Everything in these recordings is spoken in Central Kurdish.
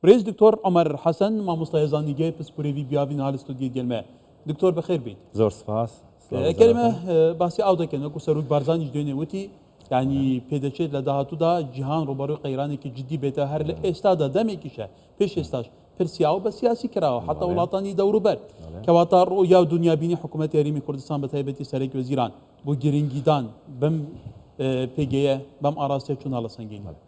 ریز دکتۆر عومەر حەسەن مامۆستا هێزانیگەێ پسپورێڤی بیاڤین هال ستۆدیێ گێلمێ. دکتۆر بەخێر بێیت. زۆر سپاس. کەرێمە باسی ئاو دەکەن وەکو سەرۆک بارزانیش دوێنێ وتی یعنی پێدەچێت لە داهاتوودا جیهان ڕوبەڕووی قەیرانێکی جددی بێتە هەر لە ئێستادا دەمێکیشە پێش ئێستاش پرسیاوە بە سیاسی کراوە حتا وڵاتانی دەوروبەر کەواتە ڕۆ یا و دنیابینی حکوومەت یاریمی کوردستان بە تایبەتی سەرێک وەزیران بۆ گرنگیدان بم پێگەیە بەم ئاراستە چوون هەڵە سەنگینەوە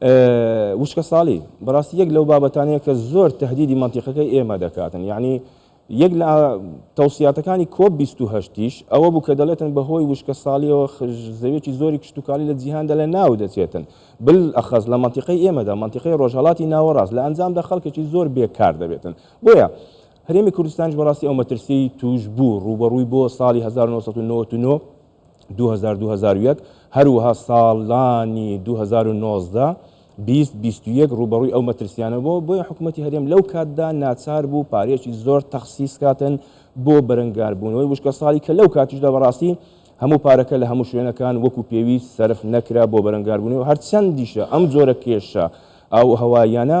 وشکە ساڵی بەڕاستی یەک لەو بابەتانەیە کە زۆر تهدیدی مەنتیقەکەی ئێمە دەکاتن یعنی یەک لە تەوسیاتەکانی کۆپ 28یش ئەوە بوو کە دەڵێتن بەهۆی وشکە ساڵیەوە زەوێکی زۆری کشتتوکالی لە جیهاندا لە ناو دەچێتن بل ئەخەز لە منتیقی ئێمەدا منتیقی ڕۆژهڵاتی ناوەڕاست لە ئەنجامدا خەڵکێکی زۆر بێکار دەبێتن بۆیە هەرێمی کوردستانش بەڕاستی ئەو مەترسی توش بوو ڕوبەڕووی بۆ ساڵی 1999 دوو هەزار دوو هەزار و یەک، هەروەها ساڵانی دوو هەزار و نۆزدە، بیست، بیست و یەک ڕووبەڕووی ئەو مەترسییانە بووە، بۆیە حکومەتی هەرێم لەو کاتدا ناچار بوو پارەیەکی زۆر تەخسیس کاتن بۆ بەرەنگاربوونەوەی وشکەساڵی کە لەو کاتیشدا بەڕاستی هەموو پارەکە لە هەموو شوێنەکان وەکو پێویست سەرف نەکرا بۆ بەرەنگاربوونەوەی هەرچەندیشە ئەم جۆرە کێشە ئاووهەواییانە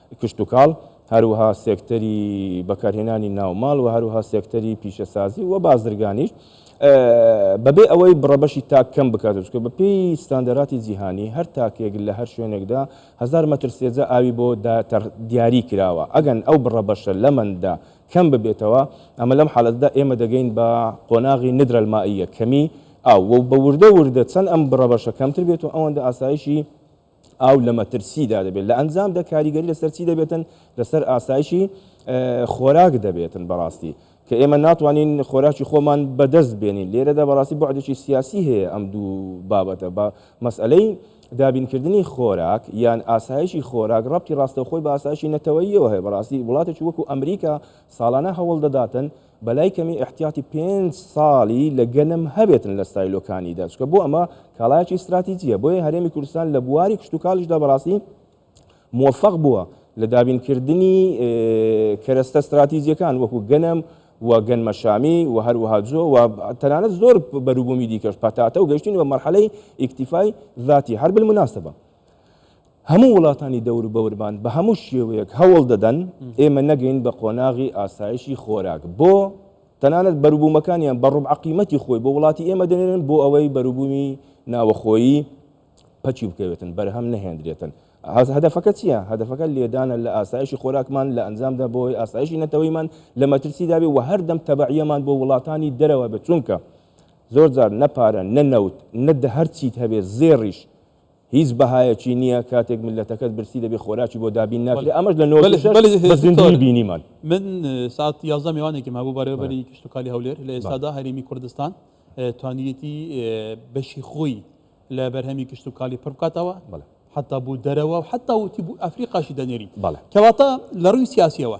کشتوکاڵ، هەروەها سێکتەری بەکارهێنانی ناوماڵ و هەروەها سێکتەری پیشەسازی و بازرگانیش بەبێ ئەوەی بڕەبەشی تاک کەم بکاتەوە، چونکە بەپێی ستاندەرادی جیهانی هەر تاکێک لە هەر شوێنێکدا هەزار مەتر سێجا ئاوی بۆ دیاری کراوە، ئەگەن ئەو بڕەبەشە لەمەندا کەم ببێتەوە، ئەمە لەم حالەتەدا ئێمە دەگەین بە قۆناغی ندرە المائیە، کەمی ئاو، و بە وردە وردە چەند ئەم بڕەبەشە کەمتر بێت و ئەوەندە ئاسایشی. ئاو لە مەترسیدا دەبێت، لە ئەنجامدا کاریگەری لەسەر چی دەبێتن؟ لەسەر ئاسایشی خۆراک دەبێتن بەڕاستی کە ئێمە ناتوانین خۆراکی خۆمان بەدەست بێنین، لێرەدا بەڕاستی بوعدێکی سیاسی هەیە ئەم دوو بابەتە بە مەسئەلەی دابینکردنی خۆراک یان ئاسایشی خۆراک ڕەبتی ڕاستەوخۆی بە ئاسایشی نەتەوەییەوە هەیە، بەڕاستی وڵاتێکی وەکو ئەمریکا ساڵانە هەوڵدەداتن، بەلای کەمی ئیحتیاتی پێنج ساڵی لە گەنم هەبێتن لە ستایلۆکانیدا چکە بۆ ئەمە کاڵایکی ستراتیجیە بۆیە هەرێمی کوردستان لە بواری کشتتوکاڵیشدا بەڕاستی موفق بووە لە دابینکردنی کەرەستە ستراتیزیەکان وەکو گەنم و گەنمەشامی و هەروەها جۆ و تەنانەت زۆر بەروبوومی دیکەش پەتاتە و گەشتین بە مەرحەلەی ئیکتیفای ذاتی هەر بالمناسبە هەموو وڵاتانی دەوروبەورمان بە هەموو شێوەیەک هەوڵ دەدەن ئێمە نەگەین بە قۆناغی ئاسایشی خۆراک بۆ تەنانەت بەروبوومەکانیان بە ڕوب عقیمەتی خۆی بۆ وڵاتی ئێمە دەنێنن بۆ ئەوەی بەروبوومی ناوەخۆیی پەچی بکەوێتن بەرهەم نەهێندرێتن هەدەفەکە چییە هەدەفەکە لێدانە لە ئاسایشی خۆراکمان لە ئەنجامدا بۆی ئاسایشی نەتەوەیمان لە مەترسی دابێ و هەردەم تەبعیەمان بۆ وڵاتانی دەرەوە بە چونکە زۆر جار نەپارە نەنەوت نەدە هەرچیت هەبێ زێڕیش هیچ بەهایەکی نیە کاتێک میللەتەکەت برسی دەبێت خۆراکی بۆ دابین ناکرێت ئەمەش لە نۆزدە شەش بە زیندووی بینیمان. من سات یازدە میوانێکم هەبوو بەڕێوەبەری کشتوکالی هەولێر لە ئێستادا هەرێمی کوردستان توانیویەتی بەشی خۆی لە بەرهەمی کشتوکالی پڕ بکاتەوە حتا بوو دەرەوە و حتا وتی بوو ئەفریقاشی دەنێرین کەواتە لە ڕووی سیاسیەوە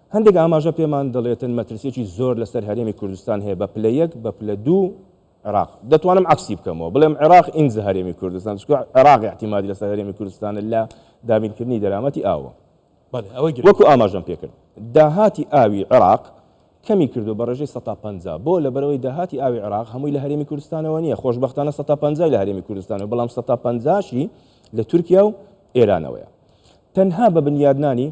هەندێک ئاماژە پێمان دەڵێتن مەترسیەکی زۆر لەسەر هەرێمی کوردستان هەیە بە پلە یەک بە پلە دوو عێراق دەتوانم عەکسی بکەمەوە بڵێم عێراق ئینجا هەرێمی کوردستان چکە عێراق احتیمادی لەسەر هەرێمی کوردستانە لە دابینکردنی دەرامەتی ئاوە وەکو ئاماژەم پێکرد داهاتی ئاوی عێراق کەمی کردو بە ڕێژەی سەتا پەنجا بۆ لە بەرەوەی داهاتی ئاوی عێراق هەمووی لە هەرێمی کوردستانەوە نییە خۆشببختانە سەتا پەنجای لە هەرێمی کوردستانەوە بەڵام سەتا پەنجاشی لە تورکیا و ئێرانەوەیە تەنها بە بنیادنانی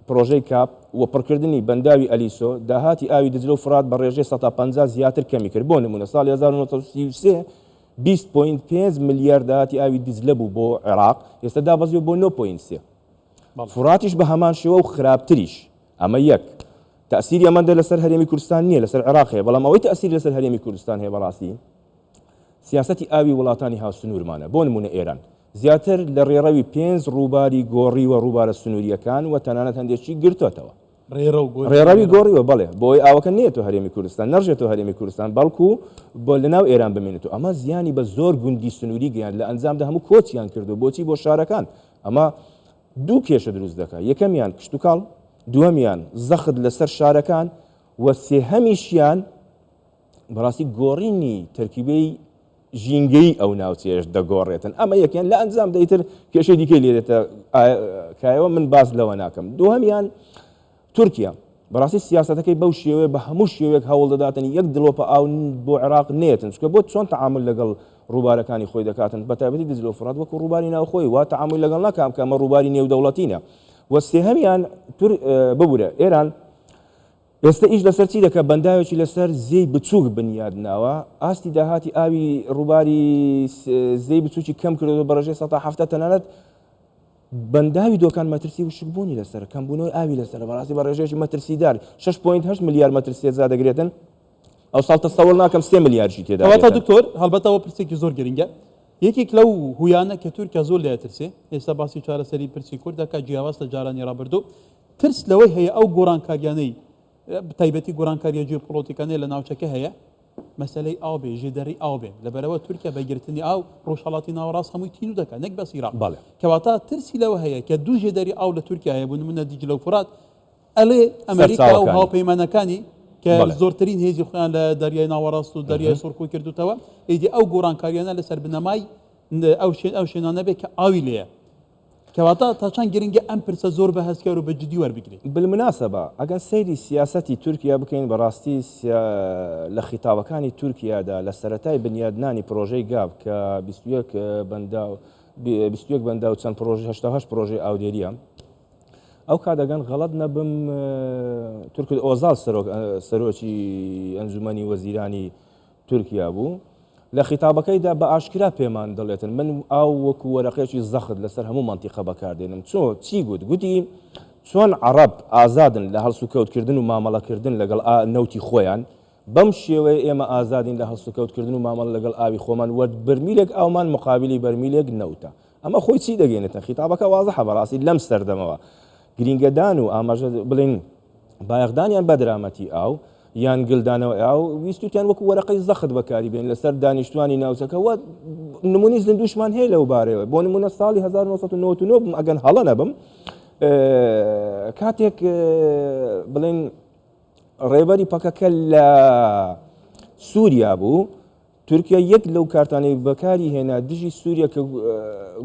پرۆژەی کاپ و پڕکردنی بەنداوی ئەلیسۆ، داهاتی ئاوی دجلە و فرات بە ڕێژەی سەتا پەنجا زیاتر کەمی کرد، بۆ نموونە ساڵی هەزار و نۆ سەد و سی و سێ بیست پۆینت پێنج ملیار داهاتی ئاوی دجلە بوو بۆ عێراق، ئێستا دابەزیوە بۆ نۆ پۆینت سێ. فراتیش بە هەمان شێوە و خراپتریش. ئەمە یەک. تەئسیری ئەمەندە لەسەر هەرێمی کوردستان نییە، لەسەر عێراق هەیە، بەڵام ئەوەی تەئسیری لەسەر هەرێمی کوردستان هەیە بەڕاستی، سیاسەتی ئاوی وڵاتانی هاوسنوورمانە، بۆ نموونە ئێران زیاتر لە ڕێڕەوی پێنج ڕووباری گۆڕیوە، ڕووبارە سنوورییەکان و تەنانەت هەندێکی گرتۆتەوە. ڕێڕەوی گۆڕیوە، بەڵێ، بۆئەوەی ئاوەکە نەیەتۆ هەرێمی کوردستان، نەڕژێتۆ هەرێمی کوردستان، بەڵکو لەناو ئێران بمێنێتۆ. ئەمە زیانی بە زۆر گوندی سنووری گەیاند، لە ئەنجامدا هەموو کۆچیان کردووە. بۆچی؟ بۆ شارەکان. ئەمە دوو کێشە دروست دەکات، یەکەمیان کشتوکاڵ، دووەمیان زەخت لەسەر شارەکان و سێهەمیشیان، بەڕاستی گۆڕینی تەرکیبەی ژینگەیی ئەو ناوچەیەش دەگۆڕێتن ئەمە یەکیان لە ئەنجام دەیتر کێشەی دیکەی لێدێتە کایەوە من باس لەوە ناکەم دووهەمیان تورکیا بەڕاستی سیاستەکەی بەو شێوێ بە هەموو شێوێک هەوڵ دەداتن یەک دڵۆپە ئاو بۆ عێراق نێتن چکە بۆ چۆن تعامل لەگەڵ ڕووبارەکانی خۆی دەکاتن بە تایبەتی دجلە و فڕات وەکو ڕووباری ناوخۆی وا تعامل لەگەڵ ناکام کە ئەمە ڕووباری نێودەوڵەتینە وە سێهەمیان تور ببورە ئێران ئێستە ئیش لەسەر چی دەکات؟ بەنداوێکی لەسەر زێی بچووک بنیادناوە، ئاستی داهاتی ئاوی ڕووباری زێی بچووکی کەم کردووە بە ڕێژەی سەدا حەفتا، تەنانەت بەنداوی دۆکان مەترسی وشکبوونی لەسەرە، کەمبوونەوەی ئاوی لەسەرە بەڕاستی بە ڕێژەیەکی مەترسیدار، شەش پۆینت هەشت ملیار مەتر سێجا دەگرێتن، ئەوساڵ تەسەووڕ ناکەم سێ ملیارشی تێدا بێتن. کەواتە دکتۆر، هەڵبەت ئەوە پرسێکی زۆر گرنگە، یەکێک لەو هۆیانە کە تورکیا زۆر لێی ئەترسێ، ئێستا باسی چارەسەری پرسی کورد دەکات جیاواز لە جارانی ڕابردوو، ترس لەوەی هەیە ئەو گۆڕانکاریانەی بە تایبەتی گۆڕانکاریە جیۆپۆڵۆتیکانەی لە ناوچەکە هەیە مەسەلەی ئاو بێ ژێدەری ئاو بێن لەبەرەوە تورکیا بە گرتنی ئاو ڕۆژهەڵاتی ناوەڕاست هەمووی تینوو دەکات نەک بەس ئیراق بەڵێ کەواتە ترسی لەوە هەیە کە دوو ژێدەری ئاو لە تورکیا هەیە بوو نمونە دیجلە و فورات ئەلێ ئەمریکا و سەرچاوەکانی هاوپەیمانەکانی کە بەڵێ زۆرترین هێزی خۆیان لە دەریای ناوەڕاست و دەریای سوور کۆ کردووتەوە ئیدی ئەو گۆڕانکاریانە لەسەر بنەمای ن ئەو شوێن ئەو شوێنانە بێ کە ئاوی لێیە کەواتە تا چەند گرنگە ئەم پرسە زۆر بە هەستیار و بە جدی وەربگرین؟ بالمناسبە ئەگەر سەیری سیاسەتی تورکیا بکەین بەڕاستی لە خیتابەکانی تورکیادا لە سەرەتای بنیادنانی پرۆژەی گاپ کە بیست و یەک بەنداو بیست و یەک بەنداو چەند پرۆژەی هەشتا و هەشت پرۆژەی ئاودێرییە ئەو کات ئەگەن غەڵەت نەبم تورکت ئۆزال سەرۆک سەرۆکی ئەنجومەنی وەزیرانی تورکیا بوو، لە خیتابەکەیدا بە ئاشکرا پێمان دەڵێتن من ئاو وەکو وەرەقێکی زەخت لەسەر هەموو مەنتیقە بەکاردێنم، چۆ چی گوت؟ گوتی چۆن عەڕەب ئازادن لە هەڵسوکەوتکردن و مامەڵەکردن لەگەڵ ئا نەوتی خۆیان، بەم شێوەیە ئێمە ئازادین لە هەڵسوکەوتکردن و مامەڵە لەگەڵ ئاوی خۆمان وە بەرمیلێک ئاومان مقابلی بەرمیلێک نەوتە. ئەمە خۆی چی دەگەینێتە خیتابەکە وازحە بەڕاستی لەم سەردەمەوە گرینگەدان و ئاماژە بڵین بایەخدانیان بە درامەتی ئاو یان گلدانەوە ئاو ویستوتیان وەکو وەرەقەی زەخت بەکاری بێن لەسەر دانیشتوانی ناوچەکە وە نمونی زیندوشمان هەیە لەو بارەوە بۆ نمونە ساڵی 1999 بم ئەگەن هەڵە نەبم کاتێک بڵین ڕێبەری پەکەکە لە سووریا بوو تورکیا یەک لەو کارتانەی بەکاری هێنا دژی سووریە کە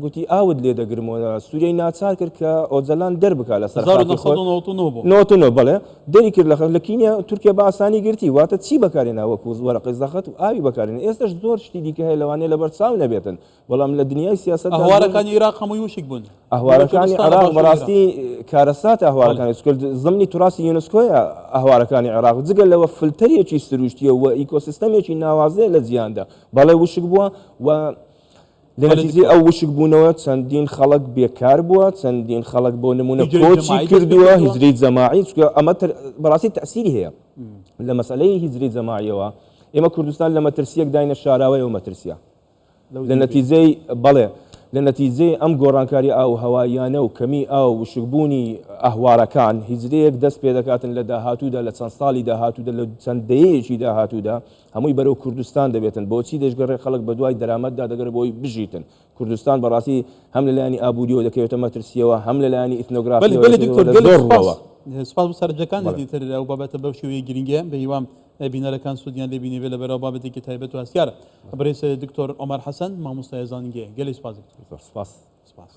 گوتی ئاوت لێ دەگرم و سووریەی ناچار کرد کە ئۆجەلان دەربکات لە سەر خاکی خۆی. 1999 بوو. بەڵێ، دەری کرد لە خاک، لە کینیا تورکیا بە ئاسانی گرتی. واتە چی بەکارهێنا وەکوو وەرەقەی زەخت و ئاوی بەکارهێنا. ئێستەش زۆر شتی دیکە هەیە لەوانەیە لەبەرچاو نەبێتن، بەڵام لە دنیای سیاست ئەهوارەکانی عێراق هەمووی وشک بوون ئەهوارەکانی عێراق بەڕاستی کارەسات ئەهوارەکانی کرد زمنی تراسی یونسکۆیە ئەهوارەکانی عێراق جگە لەوە فلتەرێکی سروشتیە و ئیکۆسیستەمێکی ناوازەیە لە جیاندا بەڵێ وشک بووە و لەنتیجی ئەو وشک بوونەوە چەندین خەڵک بێکار بووە چەندین خەڵک بۆ نمونە کۆچی کردووە هیجری جەماعی چکە ئەمە بەڕاستی تەسیری هەیە لە مەسلەی هیجری جەماعیەوە ئێمە کوردستان لە مەترسیەک داینە شاراوەیەوە مەترسیە لە نەتیجەی بەڵێ لە نەتیجەی ئەم گۆڕانکاری ئاووهەواییانە و کەمیی ئاو و وشکبوونی ئاهوارەکان، هیجرەیەک دەست پێدەکاتن لە داهاتوودا لە چەند ساڵی داهاتوودا لە چەند دەیەیەکی داهاتوودا هەمووی بەرەو کوردستان دەبێتن بۆچی دەشگەڕێ خەڵک بەدوای دەرامەتدا دەگەڕێ بۆی بژیتن کوردستان بەڕاستی هەم لە لایەنی ئابووریەوە دەکەوێتە مەترسیەوە هەم لە لایەنی ئیتنۆگرافیەوە دەکەوێتە زۆر ڕووەوە. سپاس بۆ سەرنجەکانت ئیتر ئەو بابەتە بەو شێوەیە گرینگە بەهیوام ئەی بینەرەکان سودیان لێ بینیبێ لە بەراو بابەتێکی تایبەت و هەستیارە. بەڕێز دکتۆر عومەر حەسەن مامۆستای زانینگەیە. گەلێ سوپاس دکتۆر. زۆر سوپاس. سوپاس.